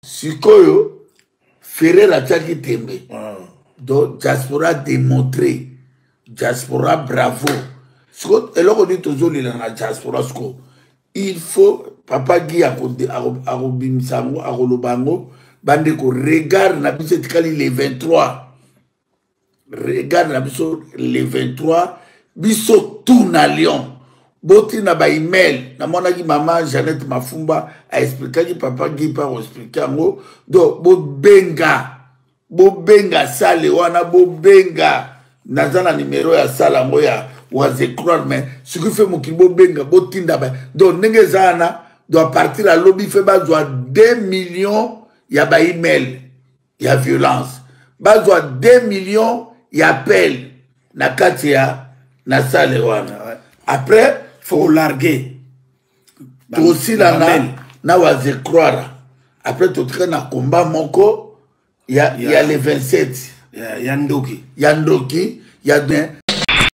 sikoyo ferrer atiaki tembe ah. donc diaspora démontre diaspora bravo siko eloko nini tozolela na diaspora siko il faut papa gi akobimisa yango akoloba yango bandeko regard na biso etikali le 23 regard na biso le 23 biso tout na lyon botina baemail namonaki mama janete mafumba aexplikaki papa gipa koexplike yango donc bobenga bobenga sale wana bobenga naza na nimero ya sale yango ya wazecroire mais soki fe mokili bobenga botinda ba donc ndenge eza wana donc apartir ya lobi fe bazwa 2 millions ya baemail ya violence bazwa 2 millions ya appel na kati ya na sale wana après faut larguer tosilana na wazecroire après totika na combat moko ya, ya, ya le 27 ya, ya ndoki ya ndoki ya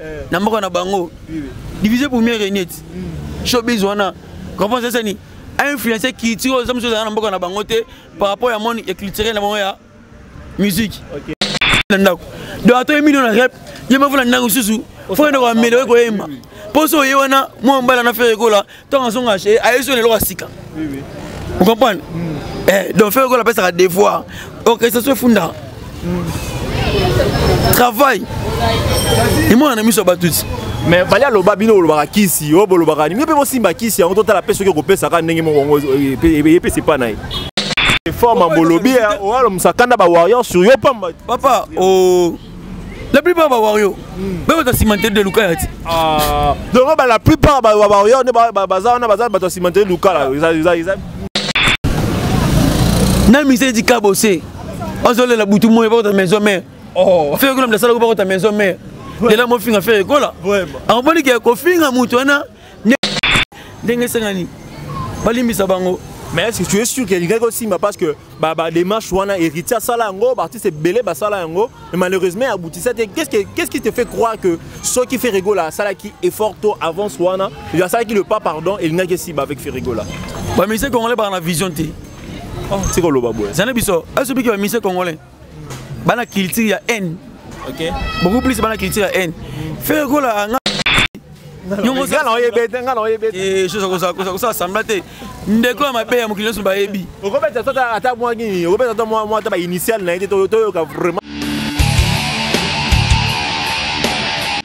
eh. na mboka na bango division pour mieux régner hmm. showbiz wana comprends ça sani influencer culture oyo mosusu ezala na mboka na bango te par rapport ya monde ya culturel na bango ya musique na ndako donc ato ye million na rep ye mafuna ndako mosusu fo ende koameliore koyemba mposo oye wana mwa mbala na fere ekola ntango azonga eh, ayebi so na eloko ya sika vous comprenez mm. eh, donc fere kola apesaka devoir orchestration oh, efunda mm. travail emona na miso ya bato ti mais fali aloba bino bolobaka kisi oyo bolobaka nini mpe bosimba kisi yango totala mpe soki okopesaka ndenge moko yango epesa epai na ye forme bolobi owalo mosakanda ba warrior sur yo pamba papa o oh. la plupart ba wario be bato asimanteli de lukala ti ah. donc ba la plupart ba wario nde baza wana baza bato asimanteli lukala na mise di kabose azolela butu moye bakota maison mare oh. fere kola mdasalako bakota maison mare lela mofinga fere kola akomoni ke kofinga moto wana ndenge esengani balimbisa bango mais est-ce que tu es sûr que lingaki osimba parce que badémarche ba wana héritier asala yango baartiste ebele basala yango mais malheureusement aboutisa te qu'est-ce, que, qu'est-ce qui te fait croire que soki ferregola asalaki effort to avance wana asalaki le pas pardon elingaki esimba avec ferregola bamise congolais baa na vision te oh. tikoloba boye zana biso asobiki bamise congolais bana culture ya haine okay. beaucoup plus bana culture ya haine fere kola nga chose akosala sembla te ndeko ya mabe ya mokili nyonso bayebi okobeta ata mwa nini okobeta ata mwa ata bainitiale na ye te toyoka vraiment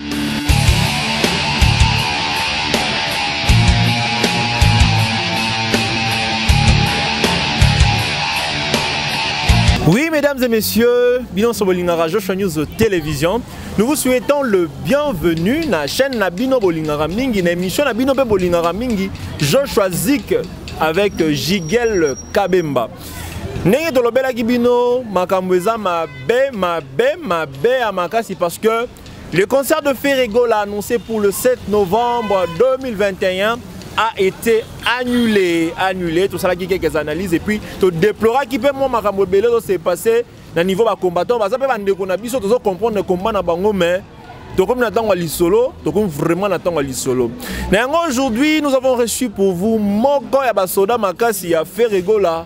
Oui, mesdames et messieurs, Bilan Sobolingara Joshua News Télévision. Nous vous souhaitons le bienvenu dans la chaîne Nabino Bolingara Mingi, l'émission Nabino Bolingara Mingi, Joshua Zik avec Jigel Kabemba. ndenge tolobelaki bino makambo eza mabe mabe mabe ya makasi parce que Le concert de Ferre Gola annoncé pour le 7 novembre 2021 a été annulé, annulé. Tout ça, qui quelques analyses et puis tu déploras qui peut moi makambo belé s'est passé na niveau ba combattants, ba zape bande qu'on a biso tu comprendre le combat na bango mais tokomi na ntango ya lisolo tokomi vraiment na ntango ya lisolo na yango aujourd'hui nous avons reçu pour vous moko ya basoda makasi ya ferregola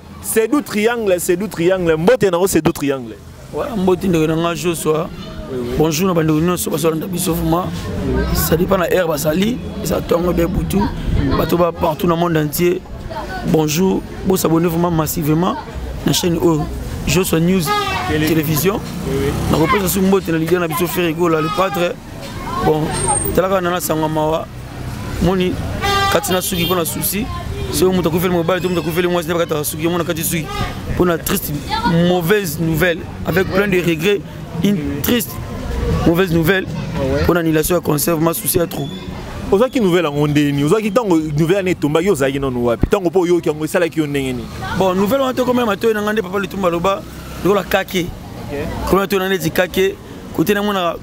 Sedou Triangle, Sedou Triangle, mbote na Sedou Triangle. Ouais, mbote ndeko na nga Joshua. Bonjour na bandeko nyonso bazolanda biso vraiment. Ça dépend na heure basali, ça tongo be butu, bato ba partout na monde entier. Bonjour, bo s'abonner vraiment massivement na chaîne oyo Joshua News Télévision. Na kopesa sous mbote na leader na biso Ferre Gola le padre bon talaka nana sangwa mawa moni kati na suki mpo na souci soki moto akufeli mobali to moto akufeli mwasi nde bakataka suki yango na kati suki mpo na triste mauvaise nouvelle avec plein de regret une triste mauvaise nouvelle mpo ah na annulation ya concert ma souci ya trop ozwaki nouvelle yango ndenge nini ozwaki ntango nouvelle yango etombaki ozalaki nano wapi ntango mpo oyoki yango esalaki yo ndenge nini bon nouvelle wana tokomela matoyi na ngai nde papa litumba aloba lokola kake komela matoyi na ngai neti kake kote namonaka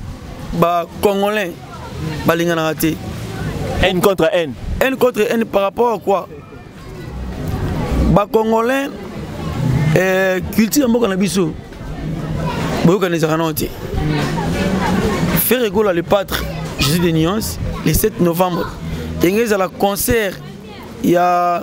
bacongolais balinganaka te haine contre haine haine contre haine par rapport à quoi bacongolais eh, culture ya mboka na biso boyokana ezalaka nao te faire egola le patre jésus de nuance le 7 novembre enge ezala concert ya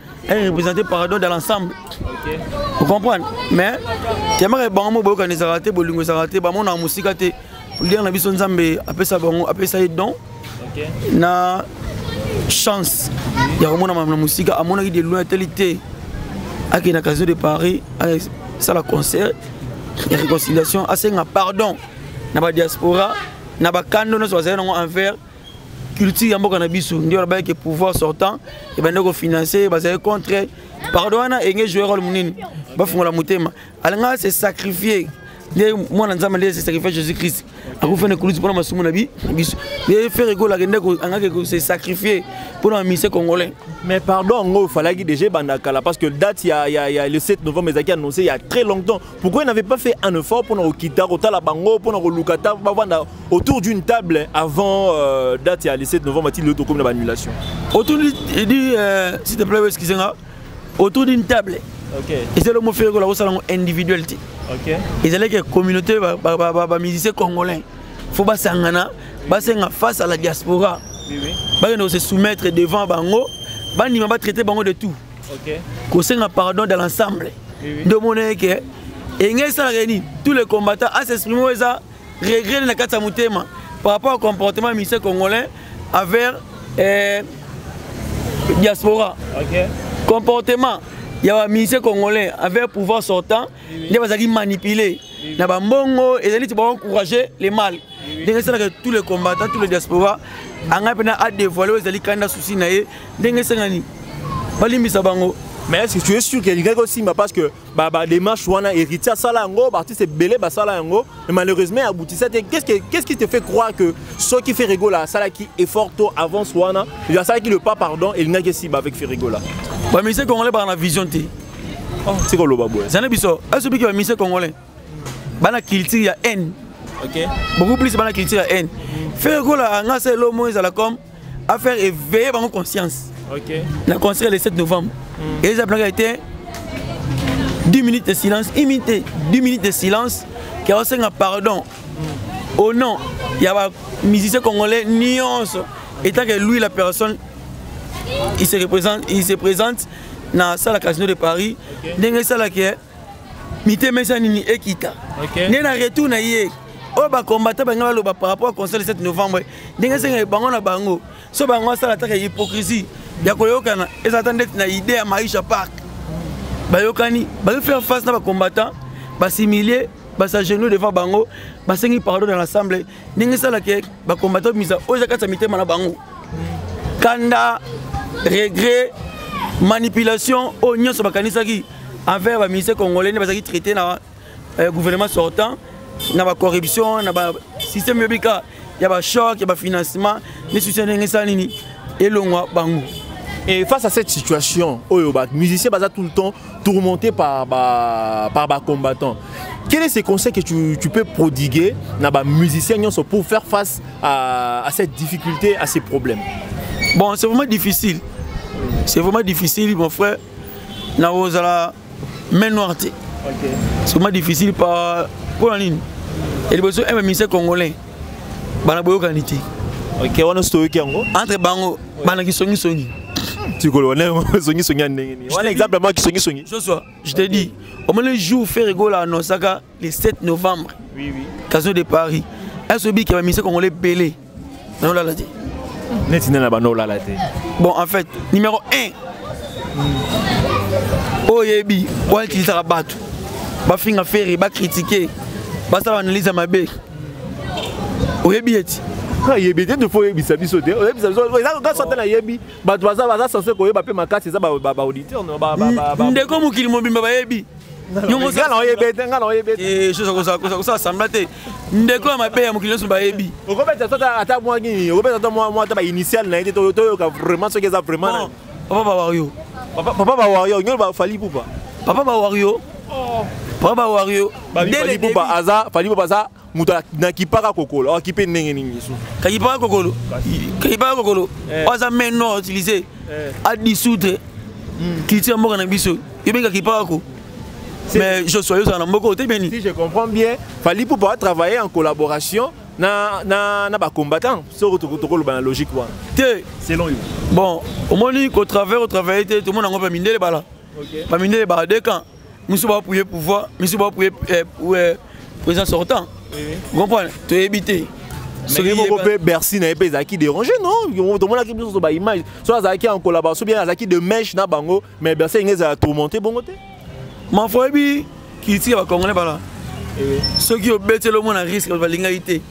Elle représente Parador dans l'ensemble. Okay. Vous comprenez Mais, tellement que bango mo boyoka nezala te, bolingo ezala te, bango na musika te. Lien na biso Nzambe apesa bango, apesa ye don. Okay. Na chance ya komona mama na musika amonaki de loin teli te akende na casino de paris asala concert ya réconciliation asenga pardon na badiaspora na bakando nyonso bazali nango envers culture ya mboka na biso nde balobaki ke pouvoir sortant ebandaki kofinance bazali contre pardon wana enge joueur role monene bafungola motema alingaka se sacrifier nde mwana nzambe nde se sacrifier jésus christ akufana ekulusi mpona masumu na biso nde fere ekolaka nde angaki se sacrifier mpona bamise congolais mais pardon yango ofalaki déjà ebanda kala parce que date ya, ya, ya le 7 novembre ezalaki annoncé il y a très longtemps pourquoi il n'avait pas fait un effort mpona kokita kotala bango mpona koluka ta bavanda autour d'une table avant euh, date ya le 7 novembre ti lelo tokomi na baannulation autour du euh, s'il te plaît excusez nga autour d'une table ezali omo fere kola kosala yango individuel te ezalaki ya communauté bamusicien congolais fo basangana basenga face à la diaspora bakende kose soumettre devant bango bandima batraite bango de tout kosenga pardon de l'ensemble nde omonaki ke enge esalaka nini tous les combattants asexprime oyo eza regret na kati ya motema par rapport au comportement ya ministère congolais envers eh, diaspora okay. comportement ya baministère congolais envers pouvoir sortant nde bazalaki manipule na bambongo ezali ti baencourage le mal ndenge esalaka tous les combattants tous les diaspora angai mpena adevoile oyo ezali kanda souci na ye ndenge esengani balimbisa bango mais est ce que tu es sûr que elingaki osimba parce que ba ba démarche wana héritier asala yango ba artiste ebele basala yango mais malheureusement aboutissa te qu'est-ce que qu'est-ce qui te fait croire que ce qui fait Rigola asalaki effort to avance wana il asalaki le pas pardon elingaki esiba avec Ferrigola ba musicien congolais ba na vision te oh c'est quoi loba boy zana biso aso biki ba musicien congolais bana culture ya haine OK beaucoup plus bana culture ya haine Ferrigola anga c'est l'homme ezala comme a faire éveiller bango conscience okay. na concert le 7 novembre mm. eza planaka ete 10 minutes de silence imite 10 minutes de silence ke osenga pardon mm. au nom ya bamusicien congolais nyonso etant que lui la personne il se représente il se présente na salle casino de paris ndenge esalaki mitema eza nini ekita okay. nde na retour na ye oyo bakombata bange baloba par rapport conseil de 7 novembre ndenge esenga bango na bango so bango asala ataka hypocrisie ya koyokana eza ata ndeti na idée ya maisha park bayokani bazo faire face na bacombattant basimilie basagenou devant bango basengi pardon na l'assemble ndenge esalaka bacombattant misa oyo eza kati ya mitema na bango kanda regret manipulation oyo nyonso bakanisaki envers ba ministère congolais nde bazalaki traité na euh, gouvernement sortant na ba corruption na ba système yobika ya ba choc ya ba financement ni soutien ndenge esala nini elongwa bango Et face à cette situation, les musiciens sont tout le temps tourmentés par, par, par les combattants. Quel est ce conseil que tu, tu peux prodiguer aux musiciens pour faire face à, à cette difficulté, à ces problèmes Bon, c'est vraiment difficile. C'est vraiment difficile, mon frère. na kozala main noir te soma difficile pa mpo na nini ya liboso eme ministère congolais bana boyokani te ok wana osi toyoki yango entre bango bana kisongisongi tikoloba ndenge songisongi ya ndenge nini wana exemple mwa kisongisongi joshua je te dis omoni jour ferre gola annoncaka le 7 novembre oui, oui. kazo de paris ese obiki bamise congolais ebele nanolala te neti nde na banolala te bon en fait numéro 1 oyebi wana utilisaka bato bafinga fere bakritike basala baanalyse ya mabe oyebi eti ayebi te tofo oyebisa biso te oyebisa biso eza kaka sote nayebi bato baza sense koyeba mpe makasi eza baauditeur ndeko mokili mobimba bayebi nga na oyebi te nga na oyebi te chose kosala sembla te ndeko ya mabe ya mokili nyonso bayebi okobeta ata mwa nini okobeta ata mwa ata bainitiale na ye te toyoka vraiment soki eza vraiment papa bawario papa bawario nyolo bafali pupa papa bawario oh. papa bawario fali pupa aza fali pupa aza moto nakipaka kokolo awakipe ndenge nini yesu kakipaka kokolo kakipaka kokolo eh. aza main nord utilise eh. adisoudre hmm. culture ya mboka na biso yobenga kipaka ko mais joshua yozala na mboka ote beni si je comprends bien fali pupa atravaille en collaboration na, na, na bacombattant soko tokoloba na logique wana te selon yo bon omoni kotravaille otravaille te tomona yango bamindele bala bamindele bala de camp misu ba appuyer pouvoir misu ba appuyer eh, eh, président sortant comprendre toyebi te soki moko mpe bercy na ye mpe ezalaki dérange non tomonaki biso so baimage so azalaki en collaboration bien azalaki de mèche na bango mais bercy enge ezala tourmente bongo te mafo oyebi kiliti ya bacongolais bala eh. soki obeteli omona risque balingaki te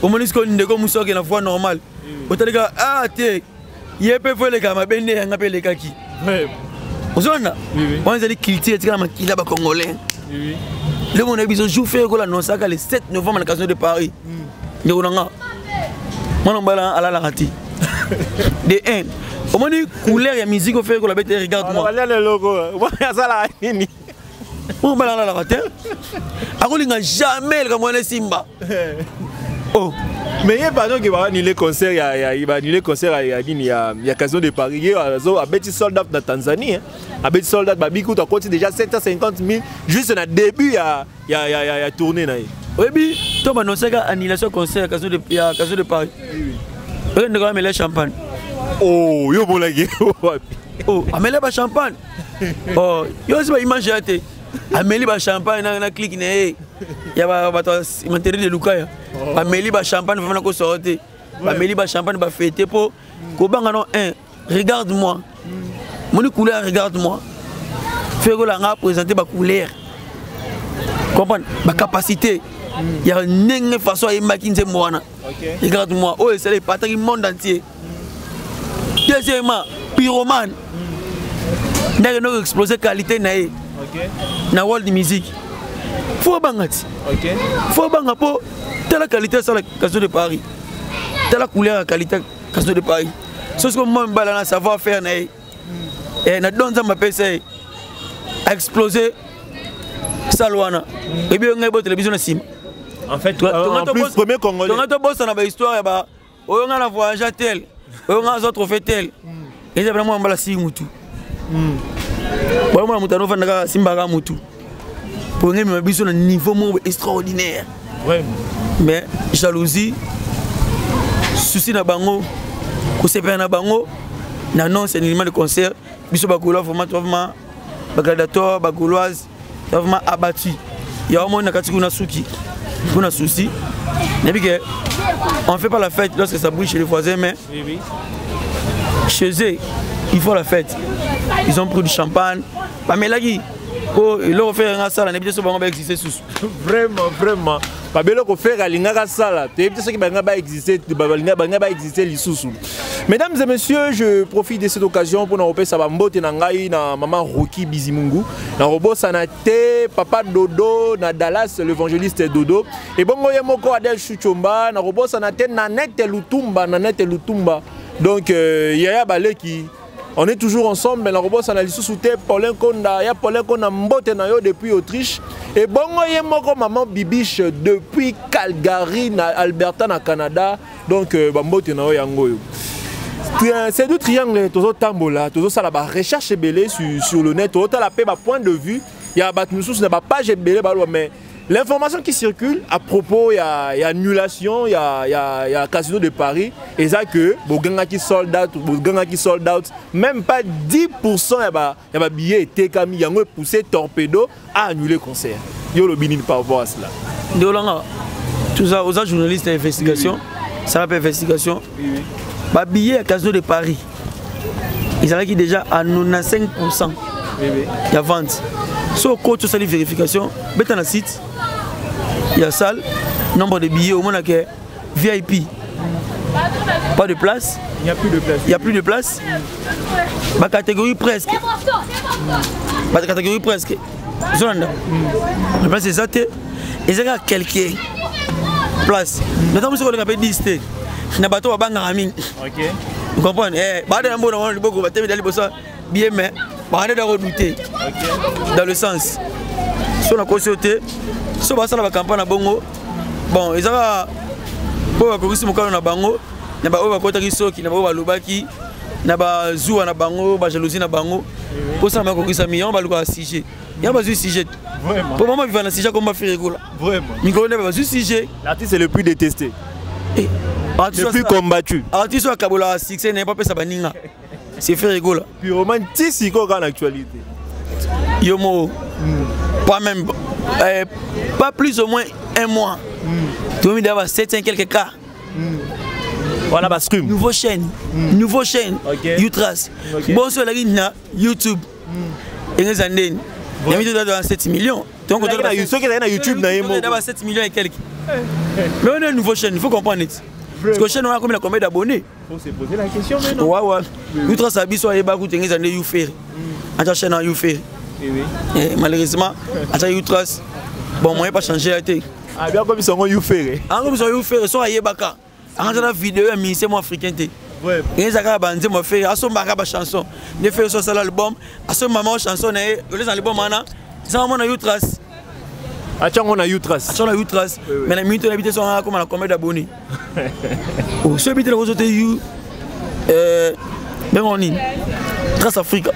omoni sikoyo ndeko mosi oke na voie normale eh. otalika a ah, te ye mpe fo eleka mabe nde yanga mpe elekaki ozolanda wana ezali culture etikala makila bacongolais le monde na biso jour fe ekola annonsaka le 7 novembre na casino de paris hmm. ndeko na nga mwana mobali alalaka te de 1 omoni couleur ya musique ofekola bete regarde moi oyo bana alalaka te akolinga jamais likambo wana esimba oh. mais ye pardon ke baanule concert ya, ya, baanule concert ya, ya nini ya, ya casino de paris ye azo abeti sold out na tanzanie hein. abeti sold out babi kutu akoti déjà 750 000 juste na début ya, ya, ya, ya, ya tournée na ye oyebi to banonsaka annulation concert ya casino de, ya casino de paris oyo ndeko amela champagne oh yo omonaki wapi oh amela ba champagne oh yo osi ba image ya te ameli ba champagne na na clique na ye ya ba bato materi de lukaya oh. bameli ba champagne vraiment ko soro te bameli ba champagne ba fete po kobanga no un regarde moi moni couleur regarde moi fekola nga présenter ba couleur comprendre ba capacité ya ndenge façon ayembaki nzembo wana regarde moi oyo esala epataki monde entier deuxièmement pyromane nde akende koexplose qualité na ye na world music fo abanga ti fo abanga mpo tala qualité asala caso de paris tala couleur ya qualité caso de paris sosi ko mwa mibala na savoir faire na ye eh, na don nzambe apesa ye aexplose sale wana ebi yo ngai botele biso na nsima en fait, euh, en plus, premier congolais. Donc, on a besoin de l'histoire, oyo nga na voyage tel oyo nga azwa trophée tel hmm. eza bana mwana mbala sii mutu hmm. bana mwana moto anofanda kaka simbaka mutu mpo ngemema biso na niveau moko extraordinaire mais jalousie souci na bango kosepela na bango na nonse nilima de concert biso bakola vraiment vraiment bagladiator bagoloise vraiment abattu ya omoni na kati kuna suki mpo na souci nayebi ke on fait pas la fête lorsque ça brille chez les voisins mais chez eux il faut la fête ils ont pris du champagne bamelaki po eloko fere nga asala nayebi te so bango baexiste susu vraiment vraiment babeloko fere alingaka asala toyebi te soki balinga baexiste balinga baexiste lisusu Mesdames et messieurs, je profite de cette occasion pour nous sa bambote na ngai na maman Rocky Bizimungu, na robot Sanate, papa Dodo, na Dallas l'évangéliste Dodo et bongo yemoko Adel Chuchomba, na robot Sanate na Nete Lutumba, na Nete Lutumba. Donc euh, Yaya Baleki on est toujours ensemble mais na kobosana na lisusu te paulin konda ya paulin konda mbote na yo depuis autriche ebongo ye moko maman bibiche depuis calgary na alberta na canada donc euh, bambote na yo yango oyo euh, c'est du triangle tozotambola tozosala barecherche ebele sur, sur le net tozotala mpe bapoint de vue ya bato mosusu na bapage ebele baloba mais l'information qui circule à propos ya, ya annulation ya, ya, ya casino de paris eza que bogangaki sold out bogangaki sold out même pas 10 ya ba ya ba billets etekami yango e pousser torpedo a annuler concert yo lobi nini par rapport à cela ndio langa toza oza journaliste ya investigation sala mpe investigation ba billets ya casino de paris ezalaki déjà à 95 pourcent ya vente so okoti osali vérification beta na site ya salle nombre de billets omonake vip pas de place il n'y a plus de place il n'y a plus de place ma catégorie presque ma catégorie presque zolanda na place eza te eza kaka quelque place na ntango mosuku koleka mpe 10 te na bato babangaka mingi comprendre eh, baada ya mbono wana liboko batelemela liboso bien mais bande dako douter dans le sens so nakosi yo te so basala bacampagne na bongo bon ezaka oyo bakokisi mokano na bango na baoyo bakotaki soki na baoyo balobaki na bazuwa na bango bajalousie na bango mposana bakokisami yango balukaka sujet yango bazwi sujet mpo mama biva na sujet komba ferikula mikolo nde bazwi sujet l'artiste le plus détesté eh, le plus combattu artiste oyo akabolaka succès naye mpapesa baninga c'est ferre gola pyromane ti sikoyo kaka na actualité yo moko hmm. pas même euh, pas plus au moins un mois hmm. tomi daba 700 quelques cas hmm. wana ba scrum nouveau chaîne mm. nouveau chaîne okay. utras okay. bonso elaki na youtube mm. engeza ndeni ya mito dada 7 millions donc soki ezali na youtube na ye moko 7 millions et quelque mais on est nouveau chaîne il faut comprendre ete parce que chaîne wana akomi na combien d'abonnés On s'est posé la question maintenant. Ouais, ouais. Nous trois ça biso ayeba ku tengeza nde Youferi. Mm. Acha chaîne Youferi. Eh oui. Eh, malheureusement, acha Youtras. Bon, moi pas changer la tête. Ah bien comme ils sont Youferi. Ah comme ils sont Youferi, so ayeba ka. Anga na vidéo ya ministère mo africain te. Ouais. Ngeza ka ba nzembo Ferre, aso mbaka ba chanson. Ne Ferre so sala album, aso maman chanson na ye, oleza album ana. Ça maman na Youtras. atia yango na utras atia na utras mais na minute oyebi te so akoma na combien d'abonné oh, so oyebi te nakozo te you euh, bengo nini trace africa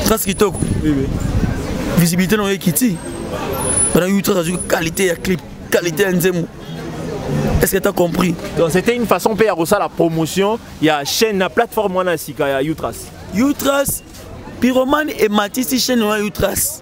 trace kitoko visibilité na yo ekiti bana utras azwi qualité ya clip qualité ya nzembo Est-ce que tu as compris Donc c'était une façon de faire la promotion, il y a chaîne, la plateforme, il y a Utras. Utras, Pyromane et Matisse, chaîne, il y a Utras.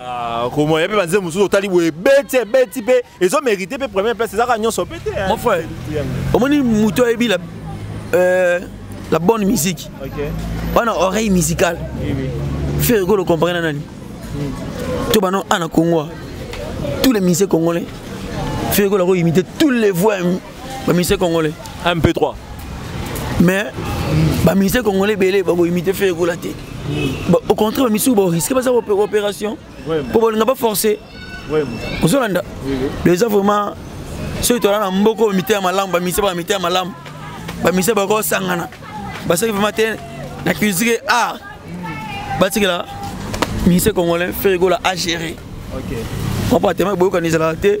Ah, komoya mpe banzembo mosusu otali boye ebeti ebeti mpe ezo mérite mpe première place ezaka nyonso mpe te mon frère omoni moto ayebi la euh, la bonne musique wana oreille musicale ferre golo comparé na nani hmm. to bano ana kongoa tous les musiciens congolais ferre golo akoimite tous les voix bamise congolais un peu trois mais bamise congolais ebele bakoimite fe ekola te au contraire bamisusu boriske baza opération mpo bolinga baforce ozolanda eza vraiment soki tola na mboko mite ya malamu bamise baka mite ya malamu bamise bakosangana basaki vraiment te na culture art batikela mise congolais fe ekola agéré okay. mpo atema boyokani ezalaka te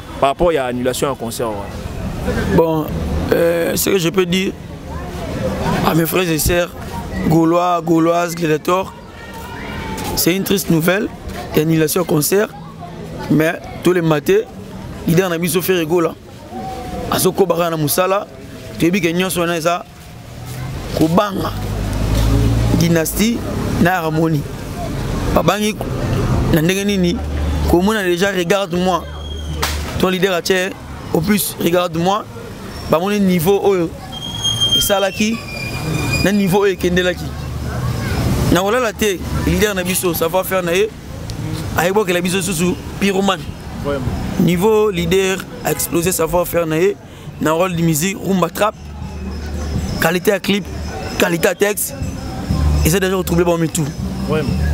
par rapport ya annulation ya concert wana bon euh, ce que je peux dire à mes frères et sœurs gaulois gauloises gladiator c'est une triste nouvelle ya annulation ya concert mais tolemate leader na biso ferre gola azokobaka na mosala toyebi ke nyonso wana eza kobanga dynastie na harmonie babangi na ndenge nini komona déjà regarde moi ton leader atie au plus regarde moi bamoni niveau oyo esalaki na niveau oyo ekendelaki na kolala te leader na biso savoir faire na ye ayebokela biso susu pyromane niveau leader a explosé savoir faire na ye na role de musique rumba trap qualité ya clip qualité ya texte eza déjà kotrouble bango mitu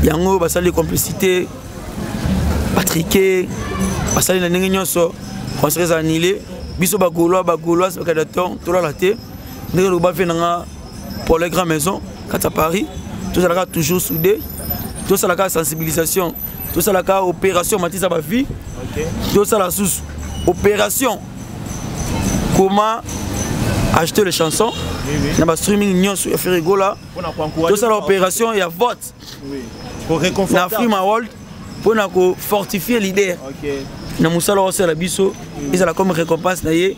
yango basali complicité batrike basali na ndenge nyonso concert eza annulé biso bagolois bagoloise bakadaton tolala te ndenge lokoba fe nanga pour les grand maison kati ya paris tozalaka toujours soudé tosalaka sensibilisation tosalaka opération matisa ba vie okay. tosala susu opération comment acheter les chansons oui, oui. na ba streaming nyonso ya ferigola tosala opération ya vote oui. na frima world mpo na kofortifie leader okay. na mosala oyo asala biso ezala comme récompense na ye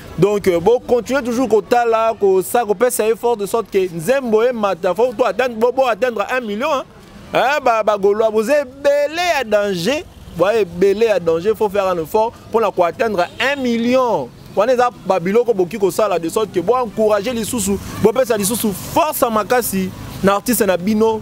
donc euh, bo continuer toujours kotala kosa kopesa effort de sorte que nzembo emata fo to atteindre bo bo atteindre 1 million hein? Hein, ba ba golois vous ebele ya danger bo ebele ya danger faut faire un effort pour na ko atteindre 1 million wana eza babiloko boki kosala de sorte que bo encourager lisusu bopesa lisusu force ya makasi na artiste na bino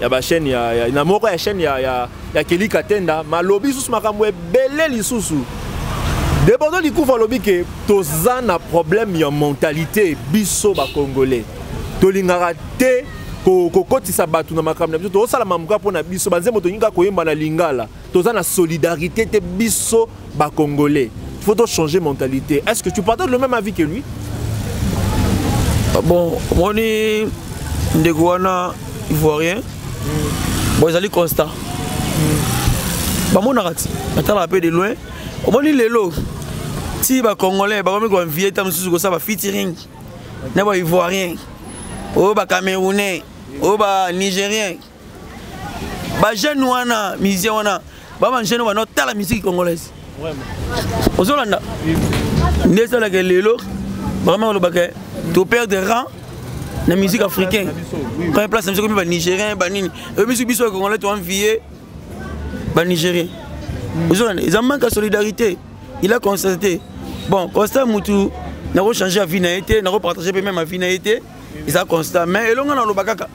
ya ba chaîne ya, ya na moko ya chaîne ya ya, ya Kelly Katenda malobi sous makambo ebele lisusu Debodo Likufa alobi ke toza na problème ya mentalité biso ba congolais tolingaka te kokotisa bato na makambo na biso tozosala mamuka mpo na biso banzembo tolingi kaka koyemba na lingala toza na solidarité te biso ba congolais faut to changer mentalité est-ce que tu partages le même avis que lui ah bon omoni ndeko wana ivoirien mm. bon ezali constat mm. bamonaka ti batalaka mpe de loin omoni lelo ti bacongolais bakomi koinvie ta mosusu kosala bafeaturing na baivoirien oyo bacamerounais oyo banigérien ba jeune wana musicien wana ba ba jeune wana tala musique congolaise ozolanda nde esalaka lelo vraiment olobaka to perdre rang na musique africaine première place na biso komi banigérien banini oyebisi biso ya congolais toenvie banigérien ozolanda eza manque ya solidarité il a constaté bon constat mutu nakochange ya vie na ye te nakopartage mpe meme ya vie na ye te eza constat mais elonga naloba kaka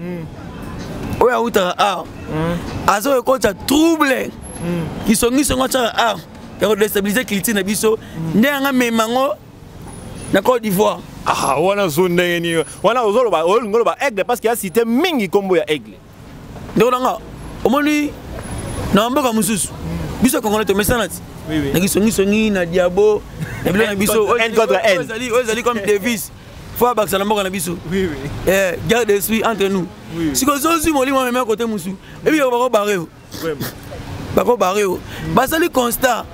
mm. oyo awutaka awa mm. aza kokotisa trouble mm. kisongisi yango atyaka awa ya kodestabilize culture na biso mm. nde yanga mema yango na cote d'ivoire ah, wana zo ndenge nini wana ozoloba olingi oloba aigle parce que ya cité mingi nkombo ya aigle ndeko nanga omoni na mboka mosusu biso kongona tomesana ti na kisongisongi na diabo na bilo na biso oyo ezali comme devise fo abakisa na mboka na biso eh, guerre de esprit entre nous siko ozozwi molimo amemea kote mosusu ebi yoko bakobare yo bakobare yo basali constat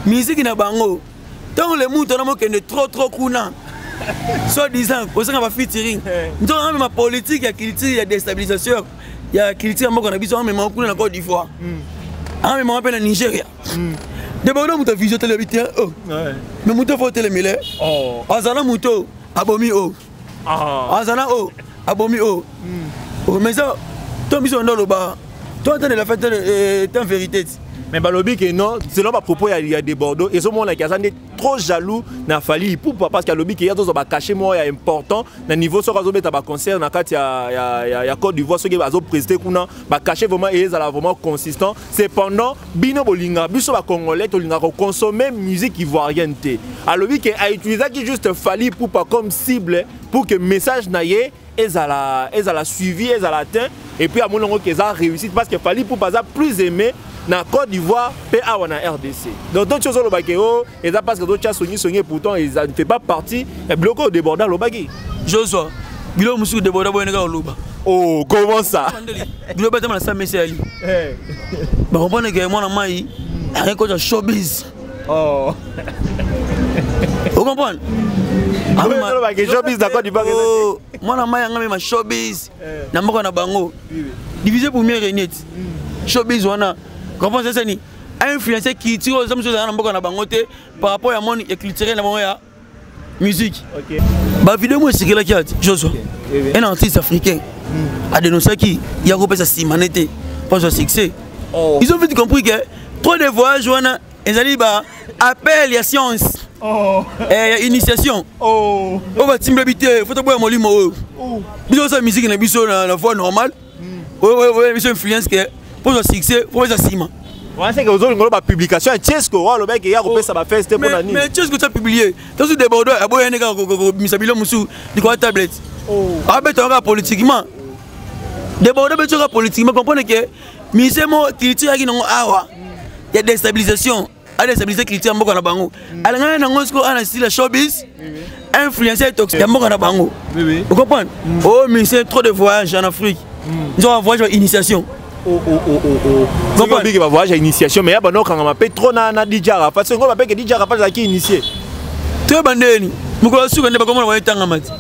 miziki na bango ntango le mutu wana mokende trop trop kuna soit disant kozanga bafitiring eh. nzoka amema politike ya culture ya destabilisation ya culture ya mboka na biso amemaka kuna na cote d'ivoire hmm. amemaka mpe na nigeria hmm. debona moto vision telebi te oh. mais moto fo telemile oh. azala moto abomi o oh. ah. azala o oh. abomi o hmm. mais ça to biso ndo loba to atanela fete eh, ten vérité ti mais balobi ke non selon bapropos ya, ya de bordeaux ezomonaki aza nde trop jaloux na fali ipupa parce que alobi ke ye azozwa bacache moko ya important na niveau soki azobeta baconcert na kati ya, ya, ya, ya côte d'ivoire soki azopreside kuna bacache vraiment ezala vraiment consistant cependant bino bolingaka biso bacongolais tolingaka koconsomme musique ivoirienne te alobi ke autilisaki juste fali pupa comme cible pour que message na ye ezala ezala suivi ezala atteint et puis amoni yango ke eza réussite parce que fali pupa aza plus aimé na côte d'ivoire mpe awa na rdc donc to ti ozoloba ke o oh, eza parce que totya songisongi pourtant eza ne fait pas partie ya biloko oyo deborda alobaki josua biloko mosusu deborda boyene kaka oloba oh comment ça biloko batama na sa mese yali eh. bakomprendre ke mwana mai aye kota showbiz oh. o comprendre oh, mwana mai yanga mema showbiz eh. na mboka na bango divise pour mieux regnete hmm. showbiz wana comprendre sasani a influencer culture oyo zamso ezala na mboka na bango te par rapport ya monde culturel na bango ya musique okay. bavideo moko esekelaki ati josua okay. Eh, eh. un artiste africain mm. adenosaki ya kopesa simane te mpozwa succès oh. ils ont vite compris que trop de voyage wana ezali ba appel ya science oh. eh, ya initiation oh. oyo batimbela bi te fo toboya molimo oyo oh. biso osala miziki na biso na voie normale oyo biso influence ke mpo ozwa succès mpo eza nsima wanaseke ozolinga oloba publication ya chesco oyo alobaki ye akopesa bafeste te mpo na nini mais chesco tya publie tosu deborde aboya nde kaka kobimisa bilo mosusu likolo ya tablette abetaka kaka politiquement deborde obeti kaka politiquement comprendre ke mise mo culture yaki nango awa ya destabilisation adestabilise culture ya mboka na bango alingana nango sikoyo ana sila showbiz influencer toxique ya mboka na bango ocomprendre o oh, ministère trop de voyage en afrique nzoka mm. voyage ba initiation oh, oh, biki bavoyage ya initiation mais ya bana okangama mpe trop na, na dj arafat songo bapeke dj arafat azalaki initie toyeba ndeni mokolo ya suka nde bakomona baetangama ti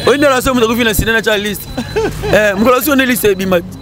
oyi nde alaso moto akufi na sina na tya liste eh, mokolo ya suka nde liste ebima ti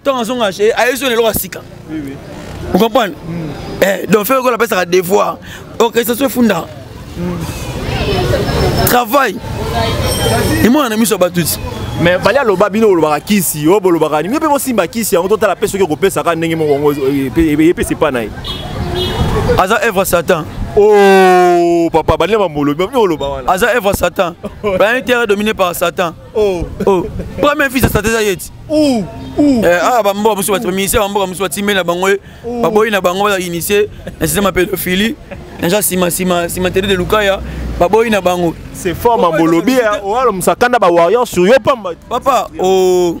ntango azonga eh, ayebi zona eloko ya sika vous comprenez mm. eh, donc fere oyo napesaka devoir orchestration oh, efunda mm. travail emona na miso ya bato ti mais fali aloba bino bolobaka kisi oyo bolobaka nini mpe bosimba kisi yango totala mpe soki okopesaka ndenge moko yango epesa epa na ye aza evre satan oh papa balinga mamolobi bamini oloba wana aza evre satan planete terre dominé par satan Oh. Oh. Premier fils ça déjà yeti. Ouh. Ouh. Eh ah ba mboka musu ba ministère ba mboka musu ba timela bango eh. ba boyi na bango ba initier na système pédophilie. Naja sima sima sima tele de Lukaya ba boyi na bango. C'est fort ma bolobi. Hein. Oalo musakanda ba warriors sur yo pamba. Papa oh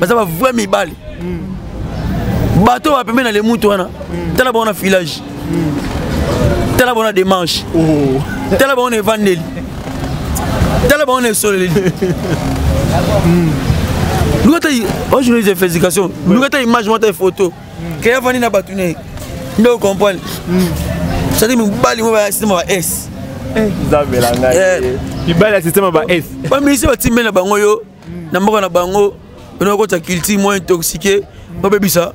baza ba vrai mibali bato oyo bapembe na lemutu wana tala bango na filage tala bango na demarche oh. tala bango na evandeli tala bango na esoleli luka ta oyo journaliste ya félicitation luka ta image mwa ta photo ke avandi na bato ne nde ocomprendre cetadi mobali mo bayasitema ba s mibali ya systeme ba s bamisi batimbe na bango yo na mboka na bango bino bakotisa culture moins intoxique babebisa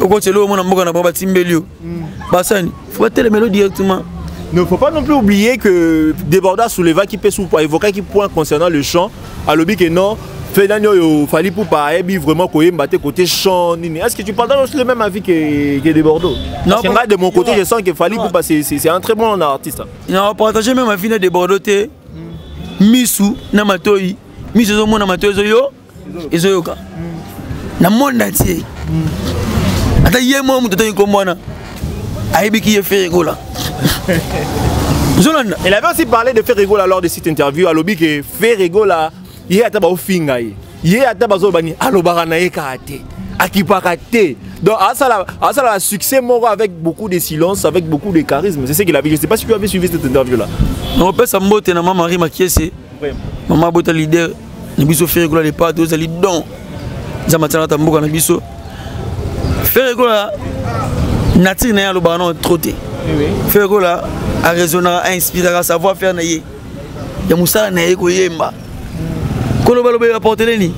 okotisa eloko mona mboka na bango batimbeli yo mm. basani fo batelemelo directement Ne faut pas non plus oublier que Deborda souleva qui peut évoquer qui point concernant le chant. À l'objet que non, fait nani oyo fali pupa ayebi vraiment koyemba te côté chant nini est ce que tu partages aussi le même avis que, que de bordeaux non parce que de mon côté je sens que fali pupa c'est un très bon artiste non partager même avis de bordeaux te misu na matoi misu ezomona matoi ezoyo ezoyoka na monde entier ata ye moko moto atangi nkombo wana ayebiki ye feregola Il avait aussi parlé de Ferregola lors de cette interview. Alobi que Ferregola ye ata baofinga ye ye ata bazoloba nini alobaka na ye kaka te akipaka te donc asala asala la succès moko avec beaucoup de silence avec beaucoup de charisme c'est ce qu'il avait je sais pas si tu avais suivi cette interview là on peut sa mbote na maman Marie Makiese maman bota leader na biso ferre kola départ tozali don nzambe atyana ta mboka na biso ferre kola nature na ye alobaka nao trop te ferre kola araisonnaka ainspiraka savoir faire na ye ya mosala na ye koyemba koloba loba ya portele nini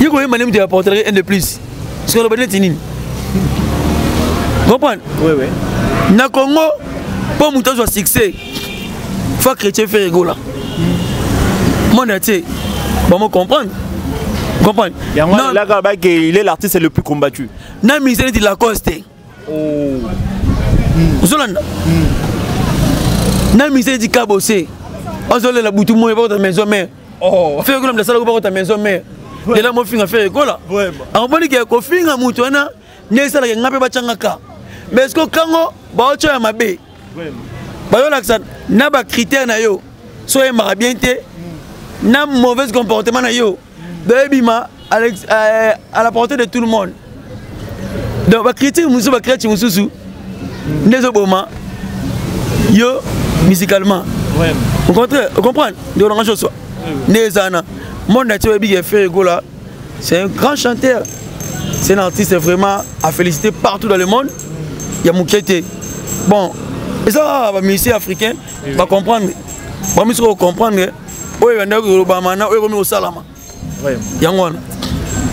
ye koyemba nde moto ya portele un de plus soki aloba neti nini comprendre na congo mpo moto azwa succès fa chrétien fere egola monde atie bango comprendre comprendre yango elaka bake il est l'artiste le plus combattu na mise neti lacoste oh. ozolanda na misali ti kabose azolela butu moye bakota maison mare oh. fere kola mdasalako bakota maison mare lela mofinga fere kola akomoni ke kofinga motu wana nde esalaka nga mpe batyangaka mais ceque kango baotya ya mabe bazolakisa na bacritère na yo so oyembaka bien te na mauvaise comportement na yo donc ebima euh, à la portée de tout le monde donc bacritique mosusu bacrati mosusu nde ezoboma yo musicalement ocontre ocomprendre nde olanga josua nde eza wana monde na ti oyebi ke frère egola c'est un grand chanteur c'est un artiste vraiment à féliciter partout dans le monde ya moke te bon eza bamusicien africain bacomprendre bamisuka kocomprendre oyo ebandaki kolobama na oyo ekomi kosalama yango wana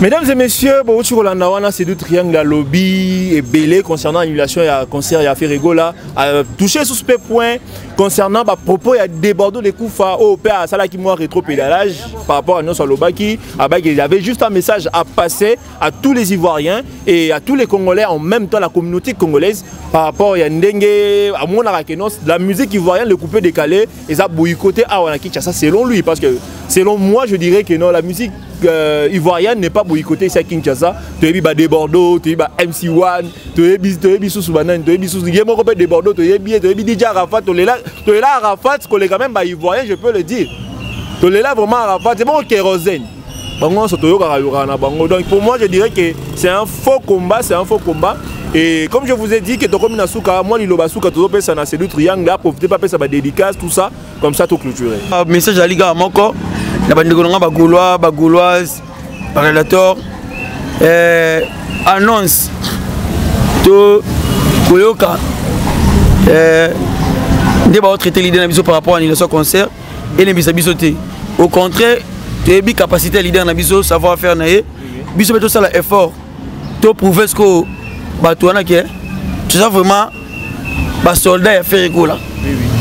Mesdames et messieurs, bon, tu Rolanda Wana, c'est du triangle à lobby et belé concernant l'annulation du concert à Ferregola. Euh, touché sur ce point concernant bah, propos à déborder les coups au père à Salaki Moua rétro-pédalage par rapport à nos Salobaki. Ah, bah, il y avait juste un message à passer à tous les Ivoiriens et à tous les Congolais, en même temps la communauté congolaise, par rapport à Ndenge, à Mona Rakenos, la musique ivoirienne, le coupé décalé. eza boycoté awa na Kinshasa selon lui parce que selon moi je dirais que non la musique euh, ivoirienne n'est pas boycottée ici à Kinshasa toyebi ba Debordo toyebi ba MC1 toyebi toyebi susu banani toyebi susu ye moko pe Debordo toyebi ye toyebi DJ Arafat tolela tolela Arafat koleka même ba ivoirien je peux le dire tolela vraiment Arafat c'est bon kérosène bango nyonso toyokaka yokaka na bango donc pour moi je dirais que c'est un faux combat c'est un faux combat et comme je vous ai dit que tokomi na suka mwa liloba suka tozopesa na sedu triangle aprofite mpe apesa badédicace tout ça comme ça toclôture ah, message ezali kaka moko na bandeko na ngai bagaulois bagauloise barelator eh, annonce to koyoka eh, nde baotraite lide na biso par rapport à annulation concert elembisa biso te au contraire toyebi capacité ya leader na biso savoir faire na ye biso mpe tosala effort to prouve ce que bato wana ke toza vraiment basoldat ya ferre ekola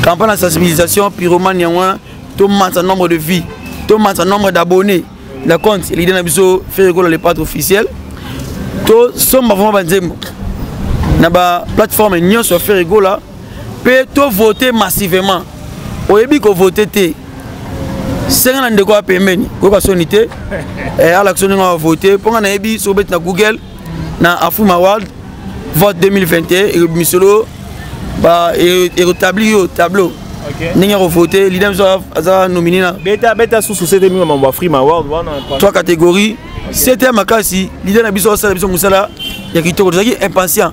campagne ya sensibilisation pyromane yango wana tomansa nombre de vie tomansa nombre d'abonné na compte elide na biso ferre ekola le patre officiel tosomba vraiment banzembo na baplateforme nyonso ya ferre ekola mpe to vote massivement oyebi kovote te senga na ndeko ya pembeni koyoka soni te eh, alakisa ndenge wa vote mpo nga nayebi soki obeti na google na afuma world vote 2021 misolo eretabli yo tableau ndenge ya kovote lida biso aza nomine na beta beta susu sete mingi mambo afrima world wana trois catégorie sete ya makasi lida na biso asala biso mosala ya kitoko tozalaki impatient